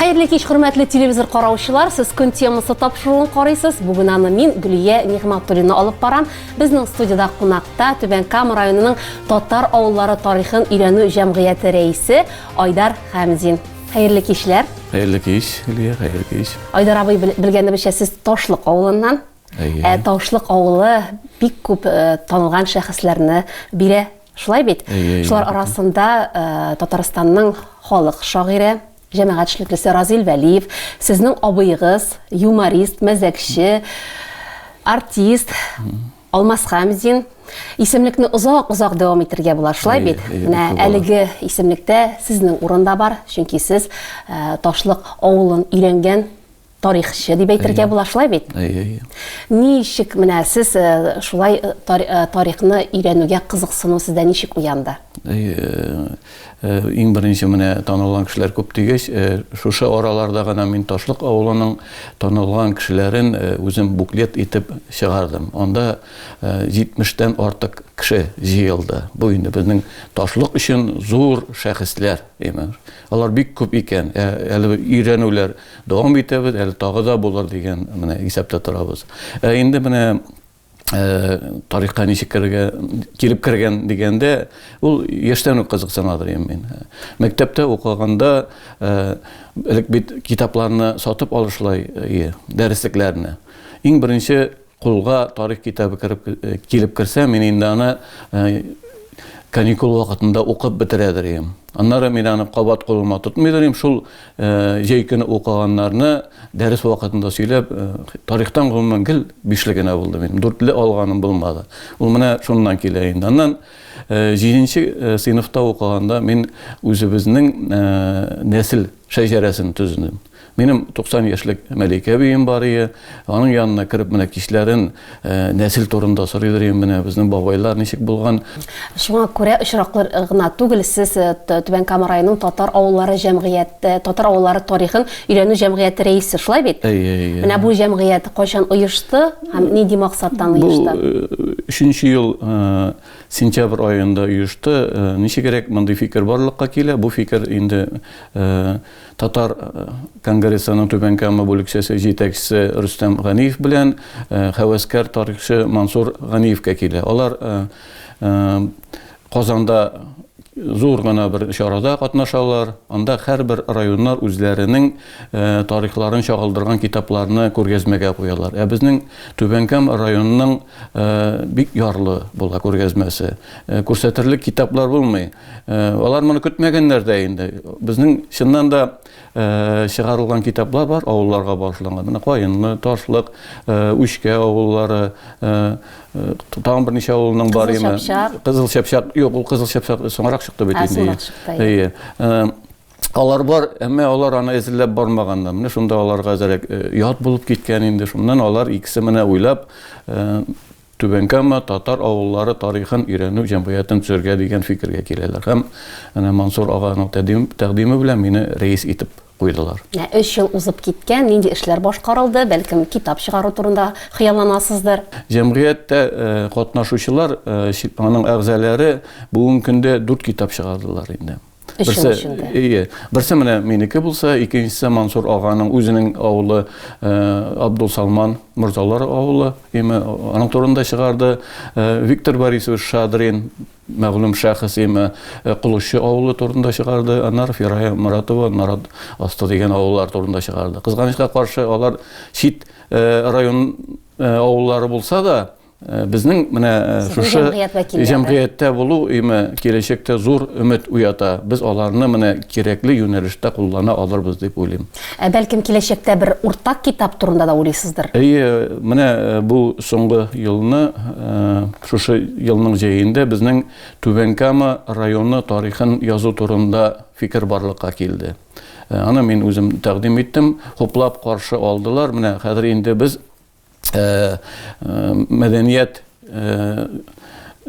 Хәерле кич, хөрмәтле телевизор караучылар. Сез көн темасы тапшыруын карыйсыз. Бүген аны мин Гөлия Нигъматуллина алып барам. Безнең студиядә кунакта Түбән Кама районының татар авыллары тарихын өйрәнү җәмгыяте рәисе Айдар Хәмзин. Хәерле кичләр. Хәерле кич, Гөлия, хәерле кич. Айдар абый белгәнебезчә сез Ташлык авылыннан. Ә Ташлык авылы бик күп э, танылган шәхесләрне бирә Шулай бит. Шулар арасында э, Татарстанның халык шагыйре, җәмәгать эшлеклесе Разил Вәлиев, сезнең абыегыз, юморист, мәзәкче, артист Алмаз Хамзин исемлекне озак-озак дәвам итергә була. Шулай бит. Менә әлеге исемлектә сезнең урында бар, чөнки сез э, Ташлык авылын өйрәнгән тарихчы дип әйтергә була, шулай бит? Ничек менә сез э, шулай э, э, тарихны өйрәнүгә кызыксыну сездә ничек уянды? Иң беренче менә танылган кешеләр күп дигәч, шушы араларда гына мин Ташлык авылының танылган кешеләрен үзем буклет итеп чыгардым. Анда 70-тән артык кеше җыелды. Бу инде безнең Ташлык өчен зур шәхесләр, имеш. Алар бик күп икән. Әле өйрәнүләр Дәвам итәбез, әле тагы да булыр дигән менә исәптә торабыз. Ә инде менә Э, тарихка ничек керергә килеп кергән дигәндә ул яшьтән үк кызыксына дим мин мәктәптә укыганда э, элек бит китапларны сатып алышлай э, дәреслекләрне иң беренче Кулга тарих китабы кереп килеп керсә, мин инде аны каникул вакытында укып бетерәдер идем. Аннары мин аны кабат кулыма тотмыйдыр идем, шул җәй көне укыганнарны дәрес вакытында сөйләп, тарихтан гомумән гел бишле генә булды минем, дүртле алганым булмады. Ул менә шуннан килә инде. Аннан җиденче сыйныфта укыганда мин үзебезнең нәсел шәҗәрәсен төздем. Минем 90 яшьлек Мәликә бием бар ие. Аның янына кереп менә кичләрен нәсел турында сорыйдыр ие менә безнең бабайлар ничек булган. Шуңа күрә очраклы гына түгел сез Түбән Кама районының татар авыллары җәмгыять татар авыллары тарихын өйрәнү җәмгыяте рәисе, шулай бит? Әйе, әйе. Менә бу җәмгыять кайчан оешты һәм нинди максаттан оешты? Бу өченче ел сентябрь аенда оешты. Ничегрәк мондый фикер барлыкка килә? Бу фикер инде Татар конгрессының Түбән Кама бүлекчәсе җитәкчесе Рөстәм Ганиев белән һәвәскәр тарихчы Мансур Ганиевкә килә. Алар Казанда зур гына бер чарада катнашалар. Анда һәрбер районнар үзләренең тарихларын чагылдырган китапларны күргәзмәгә куялар. Ә безнең Түбән Кама районының бик ярлы була күргәзмәсе. Күрсәтерлек китаплар булмый. Алар моны көтмәгәннәр дә инде. Безнең чыннан да чыгарылган китаплар бар, авылларга багышланган. Менә Каенлы, Ташлык, Үчкә авыллары, тагын берничә авылның бар име? Кызыл Чапчак. Юк, ул Кызыл Чапчак соңрак чыкты бит инде. Соңрак чыкты. Әйе. Алар бар, әмма алар аны эзләп бармаганнар. Менә шунда аларга әзрәк ят булып киткән инде. Шуннан алар икесе менә уйлап Түбән Кама татар авыллары тарихын өйрәнү җәмгыятен төзергә дигән фикергә киләләр һәм әнә Мансур аганың тәкъдиме белән мине рәис итеп куйдылар. Менә өч ел узып киткән, нинди эшләр башкарылды, бәлкем, китап чыгару турында хыялланасыздыр? Җәмгыятьтә катнашучылар, аның әгъзаләре бүгенге көндә дүрт китап чыгардылар инде. Берсе, ие. Берсе менә минеке булса, икенчесе Мансур аганың үзенең авылы э, Абдул Салман Мурзалар авылы. Име аның турында чыгарды. Э, Виктор Борисович Шадрин мәгълүм шәхес име э, Кулучы авылы турында чыгарды. Анар Фирая Муратова Нарат асты дигән авыллар турында чыгарды. Кызганычка каршы алар чит район авыллары булса да, Э, безнең менә э, шушы җәмгыятьтә булу име киләчәктә зур өмет уята. Без аларны менә кирәкле юнәлештә куллана алырбыз дип уйлыйм. Ә бәлкем киләчәктә бер уртак китап турында да уйлыйсыздыр? Әйе, менә э, бу соңгы елны, шушы елның җәендә безнең Түбән Кама районы тарихын язу турында фикер барлыкка килде. Аны мин үзем тәкъдим иттем, хуплап каршы алдылар. Менә хәзер инде без мәдәният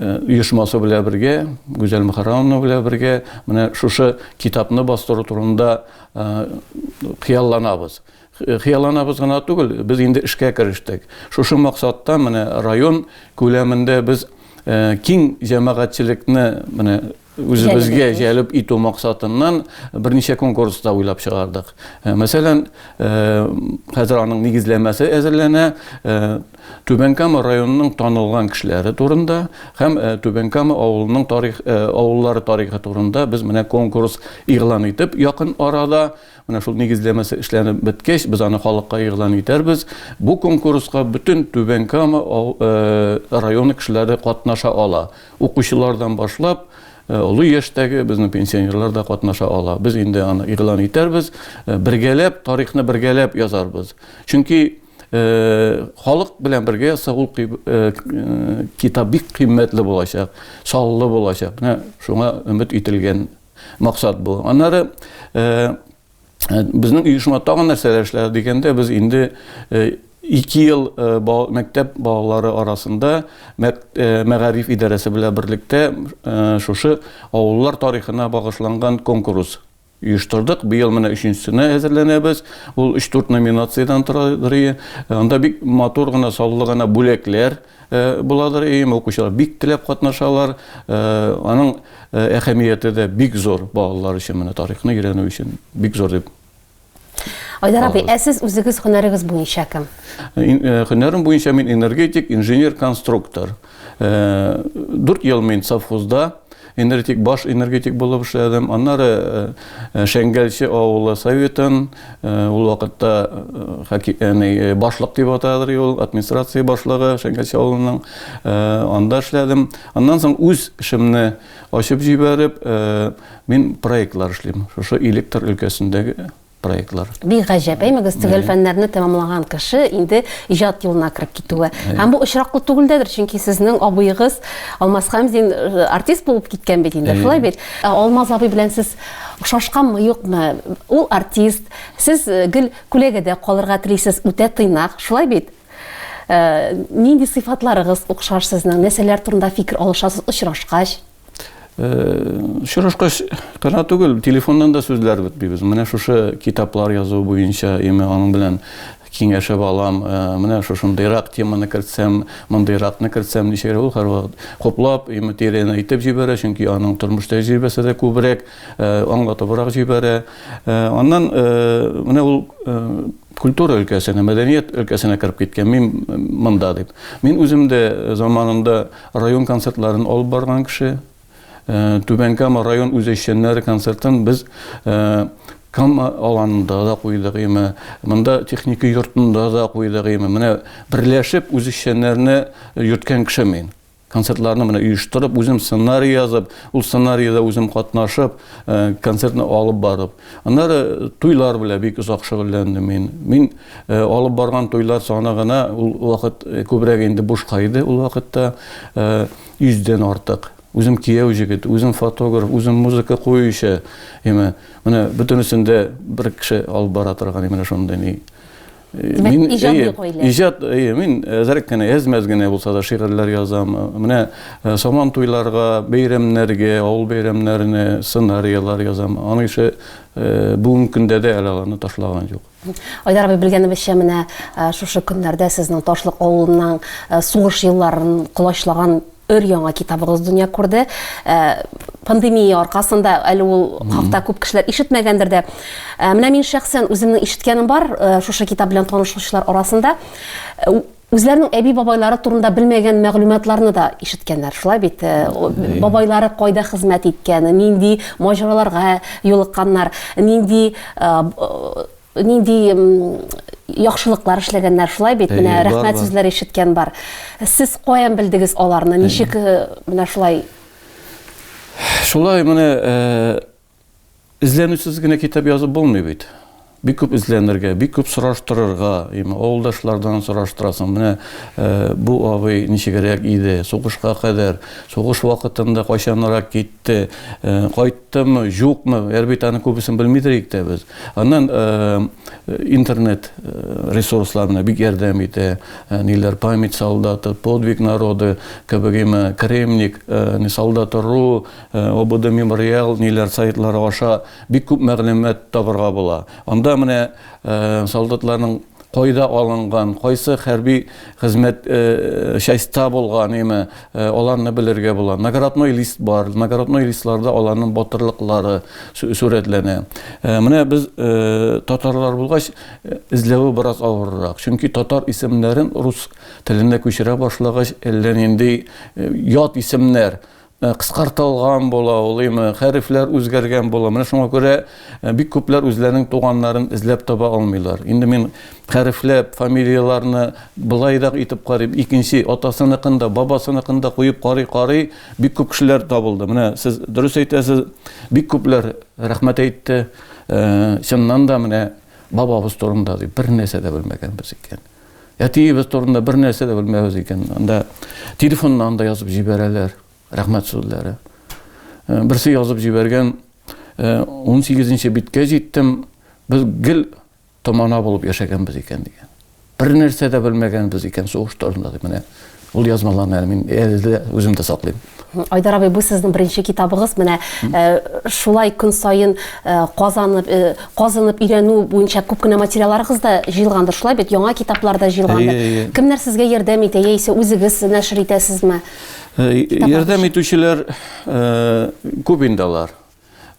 оешмасы белән бергә, Гүзәл Мөхәррәмовна белән бергә менә шушы китапны бастыру турында хыялланабыз. Хыялланабыз гына түгел, без инде эшкә керештек. Шушы максатта менә район күләмендә без киң җәмәгатьчелекне менә Үзебезгә җәлеп итү максатыннан берничә конкурс та уйлап чыгардык. Э, мәсәлән, э, хәзер аның нигезләмәсе әзерләнә. Э, Түбән Кама районының танылган кешеләре турында һәм Түбән Кама авылының тарих авыллары тарихы турында без менә конкурс игълан итеп, якын арада менә шул нигезләмәсе эшләнеп беткәч, без аны халыкка игълан итәрбез. Бу конкурска бөтен Түбән Кама районы кешеләре катнаша ала. Укучылардан башлап, олы яшьтәге безнең пенсионерлар да катнаша ала. Без инде аны игълан итәрбез, бергәләп, тарихны бергәләп язарбыз. Чөнки халык белән бергә язса, ул китап бик кыйммәтле булачак, саллы булачак. Менә шуңа өмет ителгән максат бу. Аннары Ә, безнең оешма тагын нәрсәләр эшләде дигәндә, без инде э, ике ел э, мәктәп балалары арасында э, мәгариф идарәсе белән берлектә шушы авыллар тарихына багышланган конкурс оештырдык. Быел менә өченчесенә әзерләнәбез. Ул 3-4 номинациядән тора. Анда бик матур гына, саллы гына бүләкләр, буладыр, өем укучылар бик теләп катнашалар. Аның әһәмияте дә бик зур балалар өчен, менә тарихны өйрәнү өчен бик зур дип Айдар абый, ә сез үзегез һөнәрегез буенча кем? Һөнәрем буенча мин энергетик, инженер-конструктор. Дүрт ел мин совхозда Энергетик, баш энергетик булып эшләдем. Аннары Шәңгәлче авылы советын, ул вакытта башлык дип атадыр ул, администрация башлыгы Шәңгәлче авылының, анда эшләдем. Аннан соң үз эшемне ачып җибәреп, мин проектлар эшлим, шушы электр өлкәсендәге. проектлар. Бик гаҗәп, әймәгез, төгәл фәннәрне тәмамлаган кеше инде иҗат юлына кереп китүе. Һәм бу очраклы түгел дәдер, чөнки сезнең абыегыз Алмаз Хәмзин э, артист булып киткән бит инде, шулай бит. Ә Алмаз абый белән сез ошашканмы, юкмы? Ул артист, сез э, гел күләгәдә калырга телисез, үтә тыйнак, шулай бит? Э, нинди сыйфатларыгыз охшаш сезнең? Нәрсәләр турында фикер алышасыз очрашкач? Очрашкач кына түгел, телефоннан да сүзләр бетмибез. Менә шушы китаплар язу буенча име аның белән киңәшеп алам. Менә шушындыйрак теманы кертсәм, мондыйракны кертсәм, ничегрәк ул һәрвакыт хуплап, име тирән әйтеп җибәрә, чөнки аның тормыш тәҗрибәсе дә күбрәк, аңлатыбрак җибәрә. Аннан менә ул культура өлкәсенә, мәдәният өлкәсенә кереп киткән, мин монда дип. Мин үзем дә заманында Район концертларын алып барган кеше. Түбән Кама район үзешчәннәре концертын без Кама аланында да куйдык име, монда техника йортында да куйдык име. Менә берләшеп үзешчәннәрне йөрткән кеше мин. Концертларны менә оештырып, үзем сценарий язып, ул сценарийда үзем катнашып, концертны алып барып. Аннары туйлар белән бик озак шөгыльләндем мин. Мин алып барган туйлар саны гына ул вакыт күбрәк инде бушка иде ул вакытта. Йөздән артык. Үзем кияү җегет, үзем фотограф, үзем музыка куючы. Яме, менә бөтенесен дә бер кеше алып бара торган именно шундый ни. Димәк, мин, иҗади әйе, гаилә. Иҗат, әйе, мин әзрәк кенә, әз-мәз генә булса да шигырьләр язам. Менә э, Сабан туйларга, бәйрәмнәргә, авыл бәйрәмнәренә сценарияләр язам. Аның ише э, бүгенге көндә дә әле аларны ташлаган юк. Айдар абый белгәнебезчә менә э, шушы көннәрдә сезнең Ташлык авылының э, сугыш елларын колачлаган Өр-яңа китабыгыз дөнья күрде. Ә, пандемия аркасында әле ул хакта күп кешеләр ишетмәгәндер дә. Ә, менә мин шәхсән үземнең ишеткәнем бар, ә, шушы китап белән танышучылар арасында. Ә, Үзләренең әби-бабайлары турында белмәгән мәгълүматларны да ишеткәннәр, шулай бит? Ә, о- Әйе. Бабайлары кайда хезмәт иткән, нинди маҗараларга юлыкканнар, нинди а, б- Нинди яхшылыклар эшләгәннәр, шулай бит? Менә рәхмәт сүзләр ишеткән бар. Сез каян белдегез аларны? Ничек менә шулай? Шулай менә эзләнүсез генә китап язып булмый бит. Бик күп эзләнергә, бик күп сораштырырга, авылдашлардан сораштырасың. Менә бу абый ничегрәк иде, сугышка кадәр, сугыш вакытында кайчанрак китте, кайт Тымы, җукмы, әлбит аны күбесен белмидер ик тә без. Аннан интернет ресурсларына бик ярдәм итә. Ниләр память солдаты, подвиг народы, кебек имә кремник, не солдаты ру, обода мемориал, ниләр сайтлары аша бик күп мәгълүмат табырга була. Анда менә солдатларның кайда алынган, кайсы хәрби хезмәт частьта булган, яме аларны белергә була. Наградной лист бар. Наградной листларда аларның батырлыклары сурәтләнә. Менә без татарлар булгач, эзләве бераз авыррак. Чөнки татар исемнәрен рус теленә күчерә башлагач, әллә нинди ят исемнәр Э, кыскартылган була ул имы хәрефләр үзгәргән була менә шуңа күрә э, бик күпләр үзләренең туганнарын эзләп таба алмыйлар инде мин хәрефләп фамилияларны былайрак итеп карыйм икенче атасыныкын да бабасыныкын да куеп карый карый бик күп кешеләр табылды менә сез дөрес әйтәсез бик күпләр рәхмәт әйтте э, чыннан да менә бабабыз турында дип бер нәрсә дә белмәгәнбез икән Әтиебез турында бер нәрсә дә белмәбез икән. Анда телефоннан да язып җибәрәләр. Рәхмәт сүзләре. Э, берсе язып җибәргән 18-нче э, биткә җиттем. Без гел томана булып яшәгәнбез икән дигән. Бер нәрсә дә белмәгәнбез икән сугыш турында дип менә Ул язмаларны әле мин әле дә үзем дә саклыйм. Айдар абый, бу сезнең беренче китабыгыз. Менә э, шулай көн саен э, казанып, э, казынып өйрәнү буенча күп кенә материалларыгыз да җыелгандыр. Шулай бит, яңа китаплар да җыелгандыр. Әйе, әйе. Кемнәр сезгә ярдәм итә, яисә үзегез нәшер итәсезме? Э, Ярдәм итүчеләр э, күп инде алар.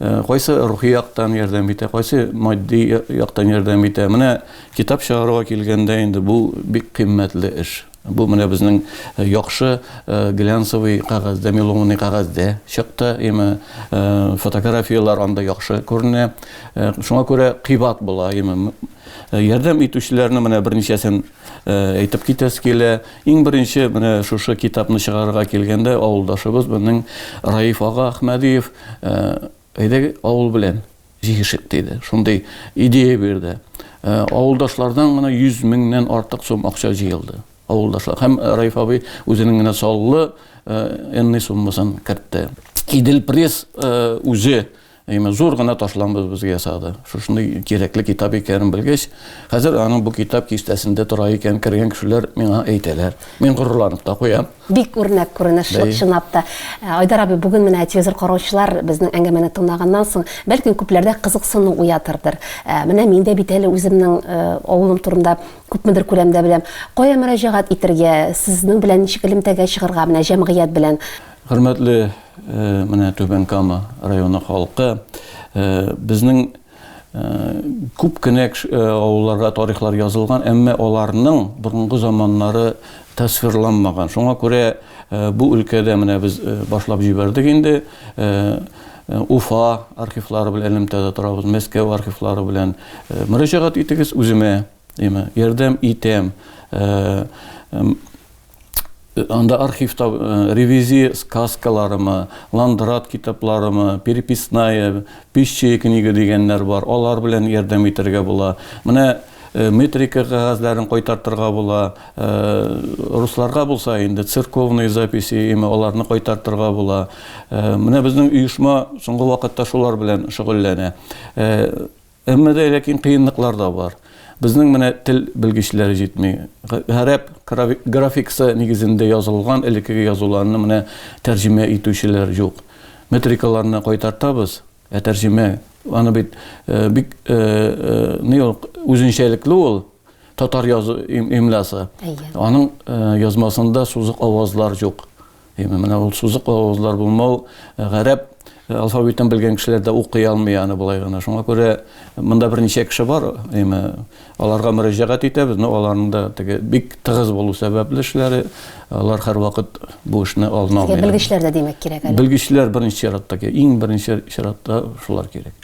Кайсы рухи яктан ярдәм итә, кайсы матди яктан ярдәм итә. Менә китап чыгаруга килгәндә инде бу бик кыйммәтле эш. Бу менә безнең э, яхшы э, глянцевый кәгазьдә, меломный кәгазьдә чыкты. Име э, фотографияләр анда яхшы күренә. Шуңа күрә кыйбат була. Име ярдәм итүчеләрне менә берничәсен Э, әйтеп китәсе килә. Иң беренче менә шушы китапны чыгарырга килгәндә авылдашыбыз безнең Раиф ага Ахмәдиев э, әйдәгез авыл белән җигешик диде. Шундый идея бирде. Э, авылдашлардан гына 100 меңнән артык сум акча җыелды. Авылдашлар һәм Раиф абый үзенең генә саллы энный суммасын кертте. Идел пресс үзе Әйме зур гына ташламбыз безгә ясады. Шушындый кирәкле китап икәнен белгәч, хәзер аның бу китап кистәсендә тора икән, кергән кешеләр миңа әйтәләр. Мин горурланып та куям. Бик үрнәк күренеш чынлап та. Э, Айдар абый, бүген менә телевизор караучылар безнең әңгәмәне тыңлаганнан соң, бәлки күпләрдә кызыксыну уятырдыр. Э, менә мин дә бит әле үземнең э, авылым турында күпмедер күләмдә беләм. Кая мөрәҗәгать итәргә, сезнең белән ничек элемтәгә чыгарга, менә җәмгыять белән? Хөрмәтле менә Түбән Кама районы халкы, безнең күп кенә авылларга тарихлар язылган, әмма аларның борынгы заманнары тасвирланмаган. Шуңа күрә бу өлкәдә менә без башлап җибәрдек инде. Уфа архивлары белән элемтәдә торабыз, Мәскәү архивлары белән мөрәҗәгать итегез үземә, димә, ярдәм итәм. Анда архивта э, ревизия сказкаларымы, ландрат китапларымы, переписная, пищие книга дигәннәр бар. Алар белән ярдәм итәргә була. Менә э, метрика кәгазьләрен кайтартырга була. Э, русларга булса инде церковные записи, яме аларны кайтартырга була. Менә безнең оешма соңгы вакытта шулар белән шөгыльләнә. Әмма дә ләкин кыенлыклар да бар. Безнең менә тел белгечләре җитми. Гарәп графикасы нигезендә язылган элеккеге язуларны менә тәрҗемә итүчеләр юк. Метрикаларны кайтартабыз, ә тәрҗемә, аны бит бик ни ул, үзенчәлекле ул татар язу имласы. Әйе. Аның язмасында сузык авазлар юк. Әйме, менә ул сузык авызлар булмау, гарәп алфавитын белгән кешеләр дә укый алмый аны болай гына. Шуңа күрә монда берничә кеше бар, әйме, аларга мөрәҗәгать итәбез, но аларның да теге бик тыгыз булу сәбәпле эшләре, алар һәрвакыт бу эшне алына алмый. Белгечләр дә димәк кирәк әле. Белгечләр беренче чиратта кирәк, иң беренче чиратта шулар кирәк.